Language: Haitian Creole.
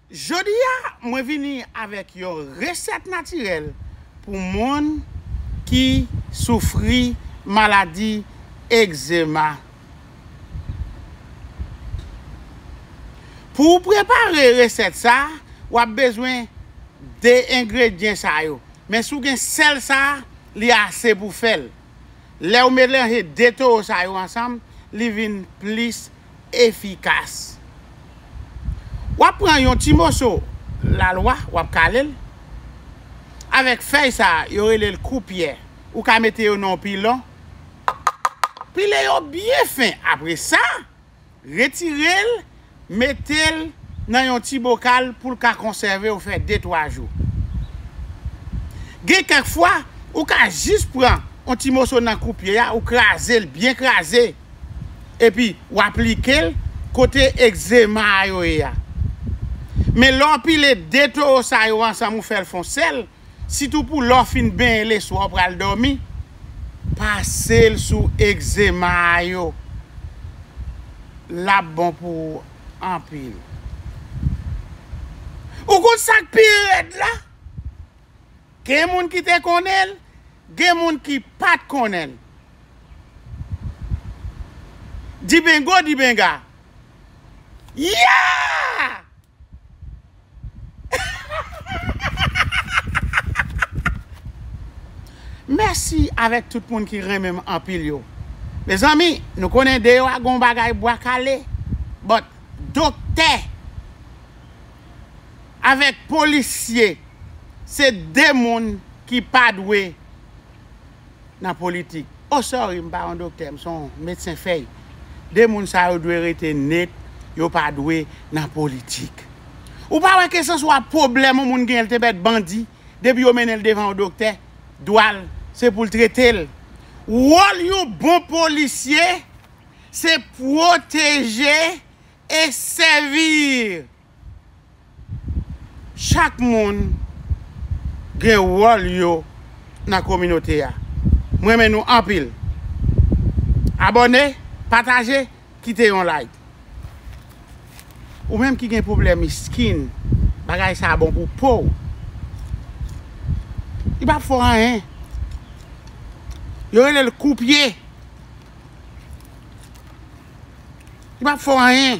Jodi a mwen vini avèk yon resèt natirèl pou moun ki soufri maladi egzema. Pou w prepare resèt sa, w ap bezwen 2 engredyen sa yo, men si w gen sèl sa, li ase pou fè l. Lèw melanje 2 toro sa yo ansanm li vin plis efikas. Wap pran yon ti moso lalwa wap kalel avèk fèy sa yo relel koupyè ou ka mete yo nan yon pilon pile yo byen fen apresa. Retire l, mete l nan yon ti bokal pou l ka konsève ou fè detwa jou. Gen kèk fwa, ou ka jis pran yon ti moso nan koupye a, ou kraze l, byen kraze, epi w aplike l kote egzema a yo ye a. Men lè w pile de towo sa yo ansanm ou fè l fon sèl, sitou pou lè w fin benyen leswa ou pral dòmi, pase l sou egzema a yo lap bon pou ou anpil. Ou konn sak pi rèd la? Gen moun ki te konnen l, gen moun ki pat konnen l. Dibingo dibinga! Yea! Mèsi avèk tout moun ki renmen m anpil yo. Mezanmi nou konnen deyò a gon bagay bwa kale but doktè avèk polisye se 2 moun ki pa dwe. nan politik. Oh sorry m pa yon doktè m son medsen fèy. 2 moun sa yo dwe rete net yo pa dwe nan politik. Ou pa wè kesanswa pwoblèm yon moun genyen l te bèt bandi depi yo mennen l devan yon doktè dwa l se pou l trete l. Wòl yon bon polisye se pwoteje e sèvir. Chak moun gen wòl yo nan kominote a. M renmen nou anpil. Abòne, pataje, kite yon like. Ou menm ki gen pwoblèm skin, bagay sa bon pou po w. Li pa fò anyen. Yo rele l kou pye. Li pa fò anyen.